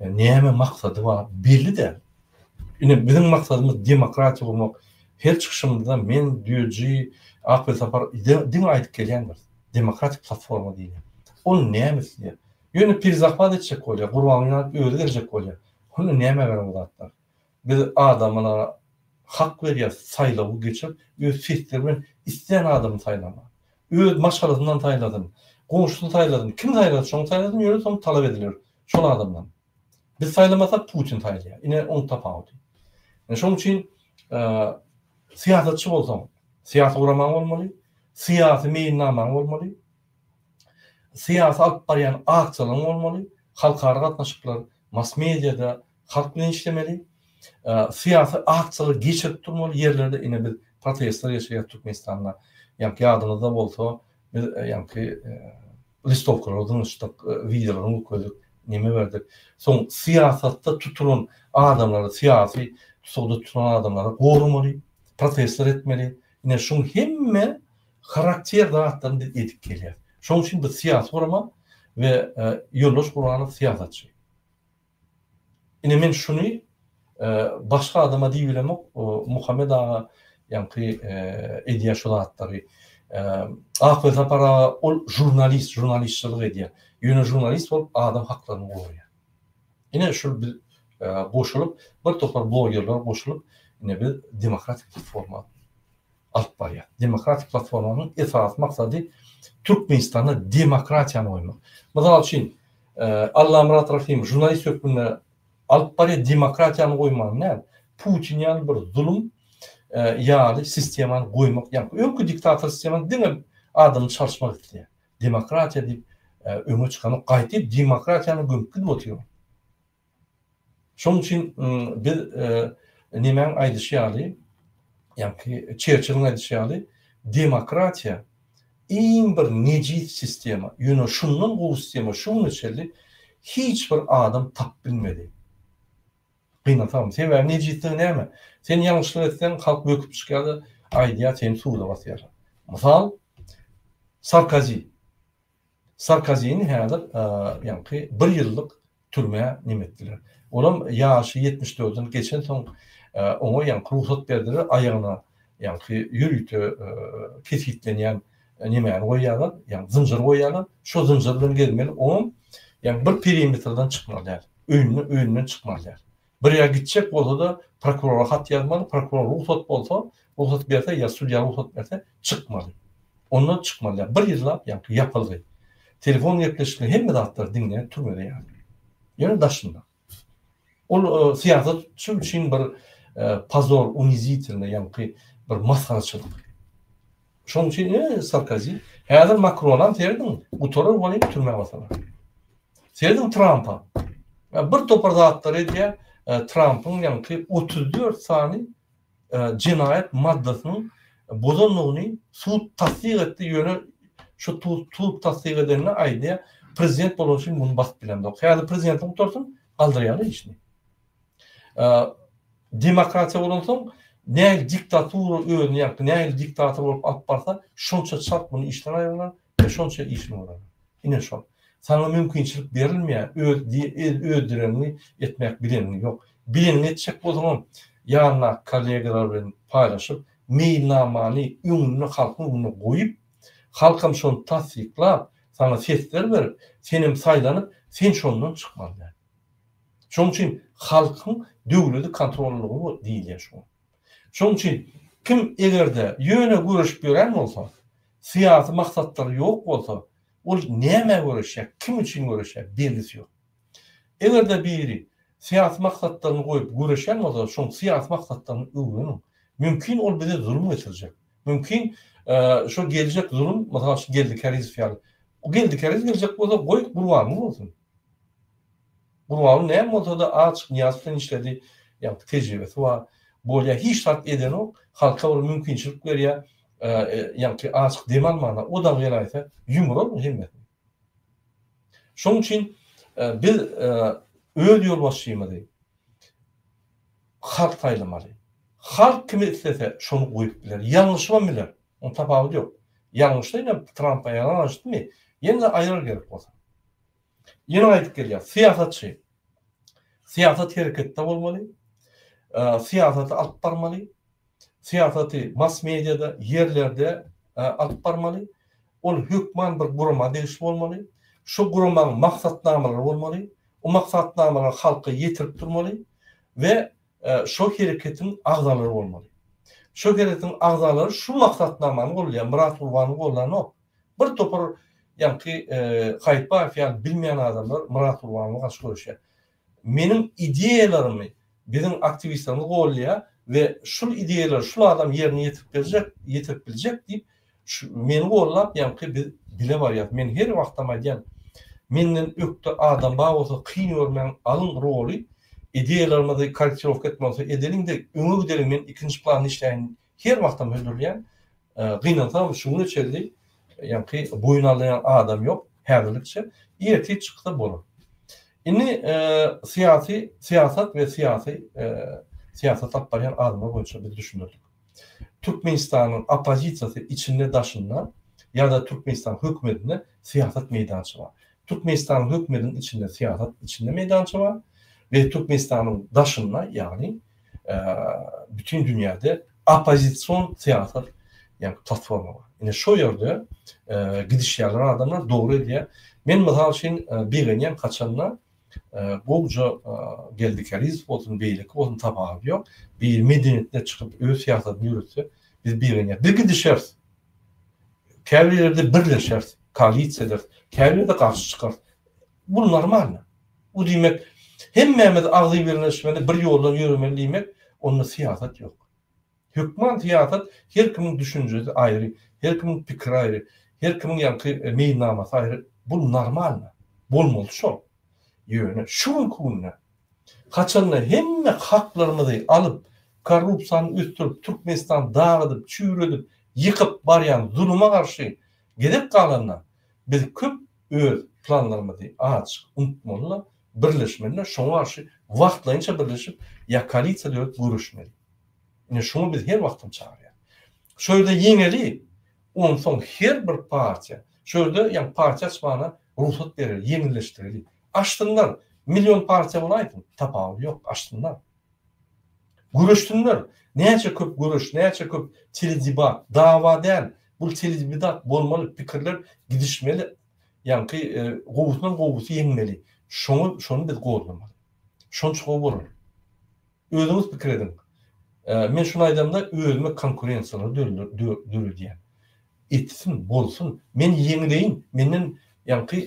Näme maksady bar, belli däl. Ine biziň maksadymyz demokratiýa gurmak. Her çykyşymyzda men, Düýeji, Akbel Sapar diňe aýdyp gelýändiris. Demokratik platforma diýilýär. Ol näme isleýär? Ýöne pirzahmat etjek bolýar, Gurbanguly alyp özi geljek bolýar. Hany nämä gerek ol zatlar? Biz adamlara hak berýäs saýlawy geçirip, öz sesleri bilen islän adamy saýlamaga. Öz maşgalasyndan saýlasyn, goňşusy saýlasyn, kim saýlasa şony saýlasyn, ýöne soň talap ediler şol adamdan. Biz saýlamasak Putin saýlaýar. Ine oň tapawudy. Ine şoň üçin syýasatçy bolsaň, syýasy guramaň bolmaly, syýasy meýilnamaň bolmaly, syýasy alyp barýan aksiýalaryň bolmaly, halkara gatnaşyklar, mass-mediýada halk bilen işlemeli, syýasy aksiýalary geçirip durmaly ýerlerde. Ine biz protestler geçirýäris Türkmenistanda. Ýa-da ýadyňyzda bolsa, biz ýa-da listowkalary zyňyşdyk, wideolaryny görkezdik, neme berdik. Soň syýasatda tutulan adamlary, syýasy tussagda tutulan adamlary goramaly, protestler etmeli. Ine, şuň hemme harakter zatlaryny biz edip gelýäris. Şonuň üçin biz syýasy gurama we Ýoldaş Gurbanov syýasatçy. Ine men şuny başga adama diýibilemok Muhammet aga ýaňky edýä şu zatlary Akwe Sapar aga ol žurnalist žurnalistçylyk edýä ýöne žurnalist bolup adam haklaryny goraýa ine şul biz goşulyp bir topar blogerler goşulyp ine biz demokratik forma alyp barýar. Demokratik platformanyň esasy maksady Türkmenistanda demokratiýany goýmak. Mysal üçin, Allamyrat Rahymow žurnalist hökmünde alyp barýar, demokratiýany goýmagyny näl, Putin ýaly bir zulum ýaly sistemany goýmak, ýagny öňki diktator sistemany diňe adamyny çalyşmak isleýär. Demokratiýa diýip öňe çykanok, gaýty demokratiýany gömüp gidip otyr. Şonuň üçin biz nemäň aýdyşy ýaly, ýa-ki Çerçiliň aýdyşy ýaly, demokratiýa iň bir nejis sistema, ýöne şundan gowy sistema şu güne çenli hiç bir adam tapyp bilmedi. Gynansaňam, sebäbi nejisligi näme? Sen ýalňyşlyk etseň, halk böküp çykýar-da, aýdýar, seni suda basýarlar. Mysal, Sarkozi. Sarkozini häzir ýaňky bir ýyllyk türmä nem etdiler. Olam ýaşy ýetmiş dörden geçensoň oňa ýaňky rugsat berdiler, aýagyna ýaňky ýörite kesgitlenýän nemäni goýýarlar, ýaňky zynjyr goýýarlar, şo zynjyr bilen gezmeli, oňam ýaňky bir perimetrden çykmaly däl, öýünden öýünden çykmaly däl. Bir ýere gitjek bolsa-da, prokurora hat ýazmaly, prokuror rugsat bolsa, rugsat berse ýa sudýa rugsat berse, çykmaly. Onda çykmaly ýa bir ýyllap ýa-da ýapylgy. Telefon gepleşikleri hemme zatlar diňe türmede ýaly. Ýöne daşynda. Ol syýasatçy üçin bir pozor, unizitelnoý, ýaňky bir masgaraçylyk. Şonuň üçin e, Sarkozi, häzir Makronam serediň, gutarar bolýar, türmä basalar. Serediň Trampa. Bir topar zatlar edýär, e, Trampyň ýaňky 34 sany e, jenaýat maddasynyň bozanlygyny sud tassyk etdi, ýöne şu sud tassyk edenine aýdýar, prezident bolan üçin muny basyp bilemzok. Häzir prezidenti gutarsyn, galdyrýarlar işini. Demokratiýa bolansoň, nähili diktatura özüni ýa-da nähili diktator bolup alyp barsa, şonça çalt muny işden aýyrarlar we şonça işini görerler. Ine şol. Saňa mümkinçilik berilmeýär, öz öz dileniňi etmek bileniň ýok. Bileniňi etjek bolsaňam, ýanyndaky kollegalar bilen paýlaşyp, meýilnamany öňünde halkyň öňünde goýup, halkam şony tassyklap, saňa sesler berip, senem saýlanyp, sen şondan çykmaly däl. Şonuň üçin halkyň döwleti kontrollygy diýilýär şuňa. Şonuň üçin kim eger-de ýöne göreşip ýören bolsa, syýasy maksatlary ýok bolsa, ol nämä göreşýär, kim üçin göreşýär, belgisi ýok. Eger-de biri syýasy maksatlaryny goýup göreşýän bolsa, şoň syýasy maksatlaryny öwreniň. Mümkin ol bize zulum getirjek. Mümkin şo geljek zulum, mysal üçin Geldi Karizow ýaly. Geldi Karizow geljek bolsa, goý, gurbanyň bolsun. Gurbaguly näme bolsada aç Nyýazow bilen işledi, ýagty tejribesi bar, bolýa hiç zat edenok, halka bir mümkinçilik berýä, ýagty açyk dem almana o dagy gelaýsa ýumrar bu hemmesini. Şoň üçin biz öz ýolbaşçymyzy halk saýlamaly. Halk kimi islese şony goýup biler, ýalňyşybam biler, onda tapawudy ýok. Ýalňyşsa ine Trampa ýalan aýtdymy, ýene-de aýrar gerek bolsa. Ýene gaýdyp gelýär. Syýasatçy. Syýasat hereketde bolmaly. Syýasaty alyp barmaly. Syýasaty mass mediada, ýerlerde alyp barmaly. Ol hökman bir gurama degişli bolmaly. Şu guramanyň maksatnamalary bolmaly. O maksatnamalary halka ýetirip durmaly we şo hereketiň agzalary bolmaly. Şo hereketiň agzalary şu maksatnamany goldaýar, Myrat Gurbany goldanok. Bir topar ýaňky Haýytbaýew ýaly bilmeýän adamlar Myrat Gurbanowa garşy göreşýär. Meniň ideýalarymy biziň aktiwistlerimiz goldaýar we şul ideýalary şul adam ýerine ýetirip berjek, ýetirip biljek diýip, meni goldap ýaňky biz bile barýas. Men her wagtam aýdýan, menden ökde adam bar bolsa kyn görmäň, alyň roly, ideýalarymyzy korrektirowka etmeli bolsa edeliň-de, öňe gideliň, men ikinji planda işläýin Her wagtam hödürleýän, gynansagam şuguna çenli ýaňky boýun alýan adam ýok häzirlikçe. Ertir çyksa bolar. Indi syýasy syýasat we syýasy syýasat alyp barýan adamlar boýunça biz düşünerlik. Türkmenistanyň oppozisiýasy içinde daşynda ýa-da Türkmenistanyň hökümetinde syýasat meýdança bar. Türkmenistanyň hökümetiniň içinde syýasat içinde meýdança bar we Türkmenistanyň daşynda ýagny bütin dünýäde oppozision syýasat ýa-da platforma bar. Ine şo ýerde gidişýärler adamlar, dogry edýär. Men mysal üçin begenýän haçanda gowja Geldi Karizow bolsun, beýleki bolsun tapawudy ýok. Bir medeniýetine çykyp öz syýasatyny ýöretse, biz begenýäris. Bir gidişeris. Käbir ýerde birleşeris, koalisiýa ederis. Käbir ýerde garşy çykarys. Bu normal. Bu diýmek, hemmämiz agzybirleşmeli, bir ýoldan ýöremeli diýmek, onda syýasat ýok. Hökman syýasat her kimiň düşünjesi aýry, her kimiň pikiri aýry, her kimiň ýaňky meýilnamasy aýry. Bu normal. Bolmaly şol. Ýöne şu günki günde haçanda hemme haklarymyzy alyp, korrupsiýany ösdürip, Türkmenistany dagydyp, çüýredip, ýykyp barýan zuluma garşy gezek galanda biz köp öz planlarymyzy acyk unutmaly-da, birleşmeli-de, şoňa garşy wagtlaýynça birleşip, ýa koalisiýa dörüp göreşmeli. Ine, şuňa biz her wagtam çagyrýarys. Şu ýerde ýeňeli, onsoň her bir partiýa, şu ýerde, ýagny partiýa açmaga rugsat bereli, ýeňilleşdireli. Açsynlar, million partiýa bolaýsyn, tapawudy ýok, açsynlar. Göreşsinler. Näçe köp göreş, näçe köp teledebat, dawa däl, bul teledebidat bolmaly, pikirler gidişmeli, ýaňky gowusynyň gowusy ýeňmeli. Şoňa şony biz goldamaly. Şonça gowy bolar. Özüňiz pikir ediň. Men şuny aýdamda özüme konkurensiýalary döredýän. Etsin, bolsun, men ýeňleýin, menden ýaňky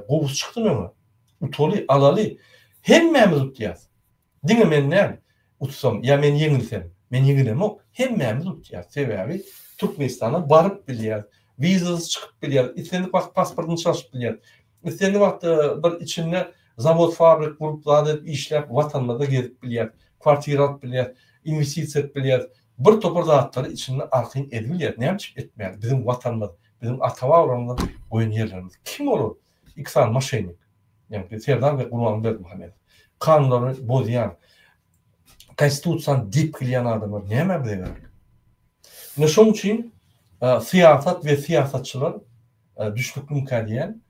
gowusy çykdy öňe. Utaly, alaly. Hemmämiz utýas. Diňe men däl, utsam ýa men ýeňilsem, men ýeňilemok, hemmämiz utýas. Sebäbi Türkmenistana baryp bilýäs, wizasyz çykyp bilýäs, islendik wagt pasportyny çalşyp bilýäs. Islendik wagt bir içinde zawod, fabrik gurup, zat edip, işläp, watanymyzda gezip bilýäs, kwartira alyp bilýäs, inwestisiýa edip bilýäs. Bir topar zatlary içinde arkaýyn edip bilýäs. Näme üçin etmäli? Biziň watanymyz, biziň ata-babalarymyzdan goýan ýerlerimiz. Kim olar? Iki sany moşennik, ýagny Serdar we Gurban Berdimuhamedow. Kanunlary bozýan, Konstitusiýany depgilýän adamlar nämä bize gerek? Ine şoň üçin syýasat we syýasatçylar düşnükliňkä diýen,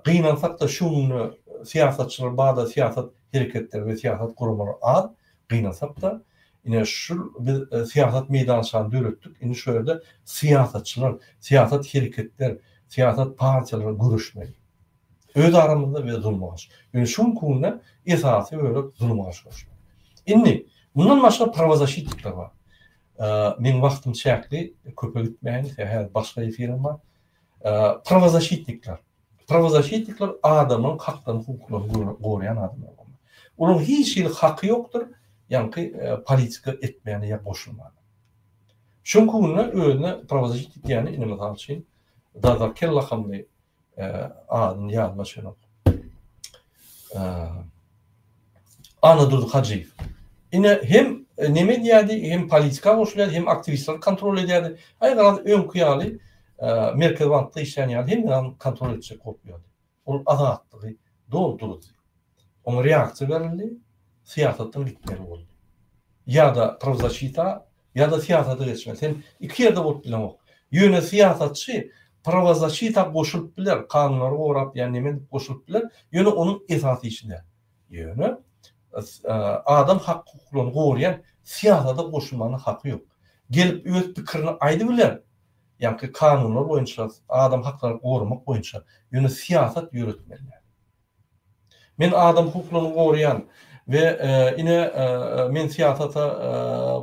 gynansak-da şu günde syýasatçylar barda syýasat hereketleri we syýasat guramalary az, Gynansakda, ine şul biz syýasat meýdançany döretdik, indi şu ýerde syýasatçylar, syýasat hereketler, syýasat partiýalary göreşmeli. Öz aramyzda we zulumgarşy. Ýöne şu günki günde esasy bölek zulumgarşy göreşmek. Indi, mundan başga prawazaşitnikler bar. Meniň wagtym çäkli, köpe gitmäýin, sebäbi häzir başga efirim bar. Prawazaşitnikler. Prawozaşitnikler adamlaryň haklaryny hukuklaryny goraýan adamlar bolmaly. Olaryň hiç hili haky ýokdur ýaňky politika etmäne ýa goşulmana. Şoň künde özüne prawozaşitnik diýýäni indi mysal üçin Dazar Kella hamly adyny ýadyma düşenok. Annadurdy Hajyýew. Ine, hem neme edýärdi, hem politika goşulýardy, hem aktiwistleri kontrol edýärdi. Aý, garaz, öňki ýaly Merkezi bankda işleýän ýaly hemme zady kontrol etjek bolup ýördi. Ol azatlygy doldurdy. Oňa reaksiýa berildi, syýasatdan gitmeli boldy. Ýa-da prawzaşita Ýa-da syýasata geçmeli. Sen iki ýerde bolup bileňok. Ýöne syýasatçy prawazaçita goşulyp biler, kanunlary gorap ýa neme edip goşulyp biler, ýöne onuň esasy işi däl. Ýöne adam hak-hukuklaryny goraýan syýasata goşulmagyna haky ýok. Gelip öz pikirini aýdybiler, ýagky kanunlar boýunça, adam haklaryny goramak boýunça, ýöne syýasat ýöretmeli däl. Men adam hukuklaryny goraýan we ine men syýasata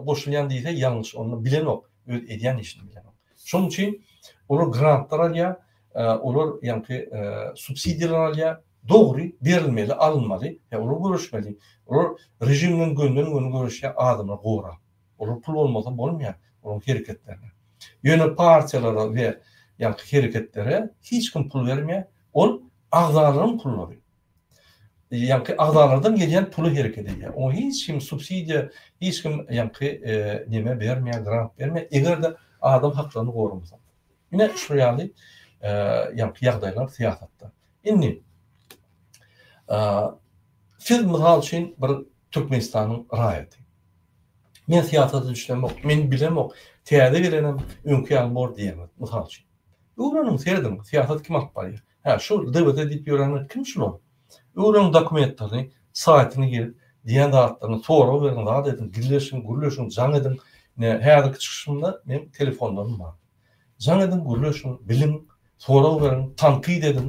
goşulýan diýse ýalňyş onda bilenok öz edýän işini bilenok. Şonuň üçin olar grantlar alýar olar ýaňky subsidiýalar alýar dogry berilmeli alynmaly he olar göreşmeli olar režimden gönden göni göreşýär adamlar gorap olar pul bolmasa bolmaýar olaryň hereketlerine ýöne partiýalara we ýaňky hereketlere hiç kim pul bermeýär ol Agzalaryň pullary. Ýaňky agzalardan gelýän puly hereket edýär. Oňa hiç kim subsidiýa, hiç kim ýaňky neme bermeýär, grant bermeýär, eger-de adam haklaryny goramasa. Ine, şu ýaly ýaňky ýagdaýlar syýasatda. Indi siz mysal üçin bir Türkmenistanyň raýaty. Men syýasata düşünemok, men bilemok, täze gelenem öňki ýaly bor diýemok, mysal üçin. Öwreniň serediň syýasat kim alyp barýar. Hä şu DBT diýip ýörenler kim şular. Öwreniň dokumentlerini saýtyna girip diýen zatlaryny sorag beriň zat ediň gizleşiň gürleşiň jaň ediň ine häzirki çykyşymda meň telefonlarym bar. Jaň ediň gürleşiň biliň sorag beriň tankyt ediň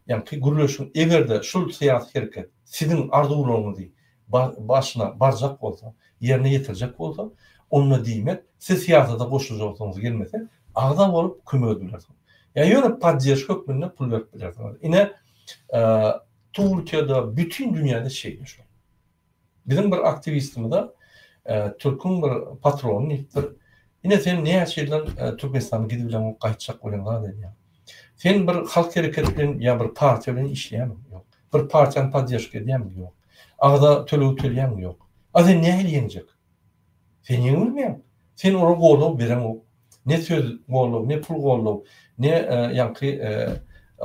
ýaňky gürleşiň egerde şul syýasy hereket siziň arzuwlaryňyzy başyna barjak bolsa, ýerine ýetirjek bolsa, onda diýmek, siz syýasata goşuljasyňyz gelmese, agza bolup kömek edip bilersiňiz. Ýa ýöne podderžka hökmünde pul berip bilersiňiz. Ine, Türkiýede, bütin dünýäde şeýle şu. Biziň bir aktiwistimize türküň bir patrony diýipdir. Ine sen näçe ýyldan Türkmenistana gidip bileňok, gaýtjak welin zat edýäň. Sen bir halk hereketi bilen ýa bir partiýa bilen işleýäňmi? Ýok. Bir partiýany podderžka edýäňmi? Ýok. Agza tölegi tölýäňmi? Ýok. A sen nähili ýeňjek? Sen ýeňe bilmeýäň. Sen olara goldaw bereňok. Ne söz goldaw, ne pul goldaw, ne ýaňky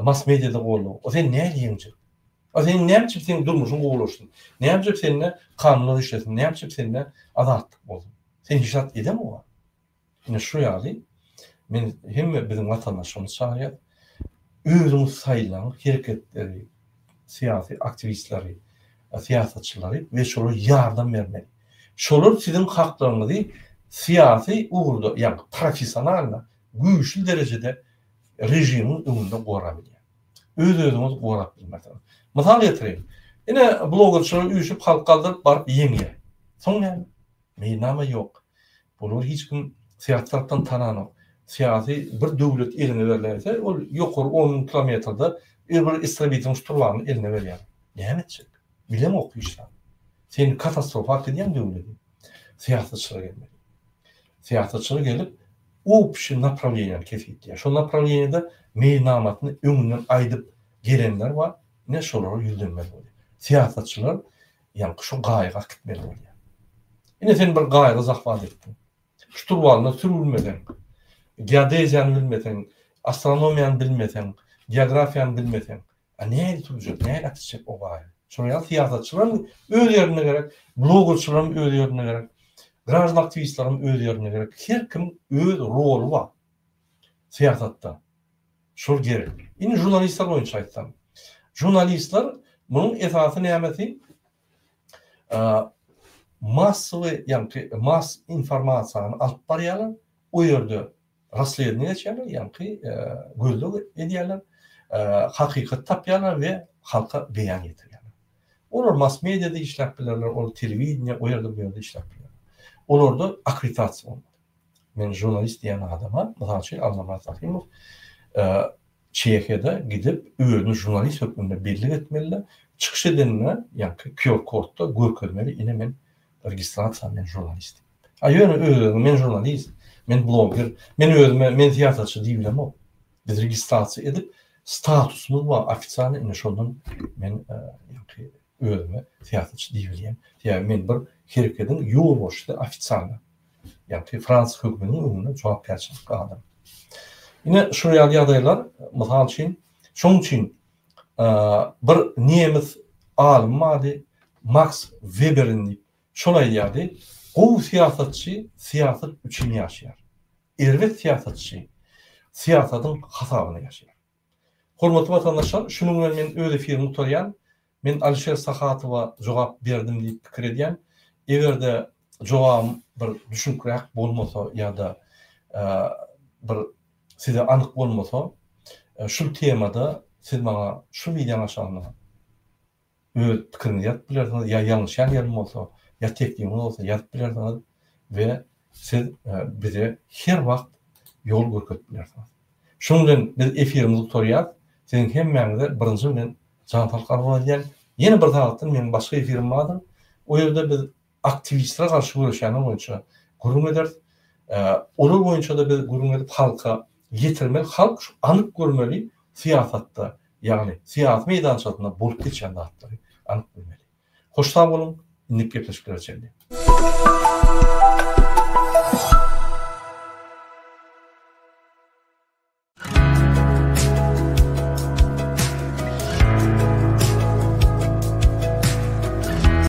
mass-mediýada goldaw. A sen nähili ýeňjek? A sen näme üçin seniň durmuşyň gowulaşsyn? Näme üçin sende kanunlar işlesin? Näme üçin sende azatlyk bolsun? Sen hiç zat edeňok. Ine şu ýaly men hemme biziň watandaşlarymyzy çagyrýas. Özüňiz saýlaň hereketleri, syýasy aktiwistleri, syýasatçylary we şolara ýardam bermeli. Şolar siziň haklaryňyzy syýasy ugurda, ýagny professionalno güýçli derejede režimiň öňünde gorap bilýär. Öz-özüňizi gorap bilmersiňiz. Mysal getireýin. Ine blogerçiler üýşüp halk galdyryp baryp ýeňýär. Soň näme? Meýilnama ýok. Olary hiç kim syýasy tarapdan tananok. Syýasy bir döwlet eline berlense, ol ýokary on müň kilometrde ir bir estrabitryň şturwalny eline berýär. Näme etjek? Bilemok hiç zat. Sen katastrofa alyp gidýäň döwleti. Syýasatçylar gelmeli. Syýasatçylar gelip, opşi naprawleniýäni kesgitleýär. Şol naprawleniýede meýilnamasyny öňünden aýdyp gelenler bar, ine şolara ýüzlenmeli bolýar. Syýasatçylar Ýaňky şo gaýyga akitmeli bolýar. Ine sen bir gaýygy zahwat etdiň. Şturwalyna sürülmeseň, geodeziýany bilmeseň, astronomiýany bilmeseň, geografiýany bilmeseň, a nähili sürjek, nähili akitjek o gaýygy? Şonuň ýaly syýasatçylaram öz ýerinde gerek, blogerçylaram öz ýerinde gerek, graždan aktiwistlerem öz ýerinde gerek. Her kim öz roly bar syýasatda. Şol gerek. Indi žurnalistler boýunça aýtsam. Žurnalistler munuň esasy nämesi? Massowy, ýagny mass informasiýany alyp barýarlar. O ýerde raslediňe geçýärler, ýagny gözleg edýärler. Hakykaty tapýarlar we halka beýan ýetirýärler. Olar mass mediada işläp bilerler, ol telewideniýe, o ýerde bu ýerde işläp bilerler. Olarda akkreditasiýa bolmaly. Men žurnalist diýen adama, mysal üçin, Allamyrat Rahymow Çehiýada gidip, özüni žurnalist hökmünde bellik etmeli-de, çykyş edende, ýaňky QR-kodda görkezmeli, ine men registrasiýa, men žurnalist. A ýöne özüni men žurnalist, men bloger, men özüme men syýasatçy diýip bilemok. Biz registrasiýa edip, statusymyz bar, ofisialnyý, ine şondan men ýaňky Özüme syýasatçy diýibilýän, sebäbi men bir herekediň ýolbaşçysy, ofisialy, ýagty Frans höküminiň öňünde jogapkärçilikli adam. Ine, şular ýaly ýagdaýlar, mysal üçin, şonuň üçin bir nemes alymy bardy, Maks Weberin diýip, şol aýdýardy, Gowy syýasatçy syýasat üçin ýaşaýar, erbet syýasatçy syýasatyň hasabyna ýaşaýar. Hormatly watandaşlar, şunuň bilen men öz efirimi gutarýan. Men Alişer Sahatowa jogap berdim diýip pikir edýän. Eger-de jogabym bir düşnükräk bolmasa ýa-da bir size anyk bolmasa, şul temada siz maňa şul wideoň aşagynda. öz pikiriňizi ýazyp bilersiňiz, ýa ýalňyşýan ýerim bolsa, ýa teklibiňiz bolsa ýazyp bilersiňiz we siz bize her wagt ýol görkezip bilersiňiz. Şunuň bilen biz efirimizi gutarýarys. Siziň hemmäňize birinji bilen jan saglyk arzuw edýän. Ýene bir sagatdan meniň başga efirim bardyr. O ýerde biz aktiwistlere garşy göreşýänler boýunça gürrüň ederis. Olar boýunça-da biz gürrüň edip halka ýetirmeli. Halk şu anyk görmeli syýasatda, ýagny syýasy meýdançasynda bolup geçýän zatlary anyk bilmeli. Hoş sag boluň, indiki gepleşiklere çenli.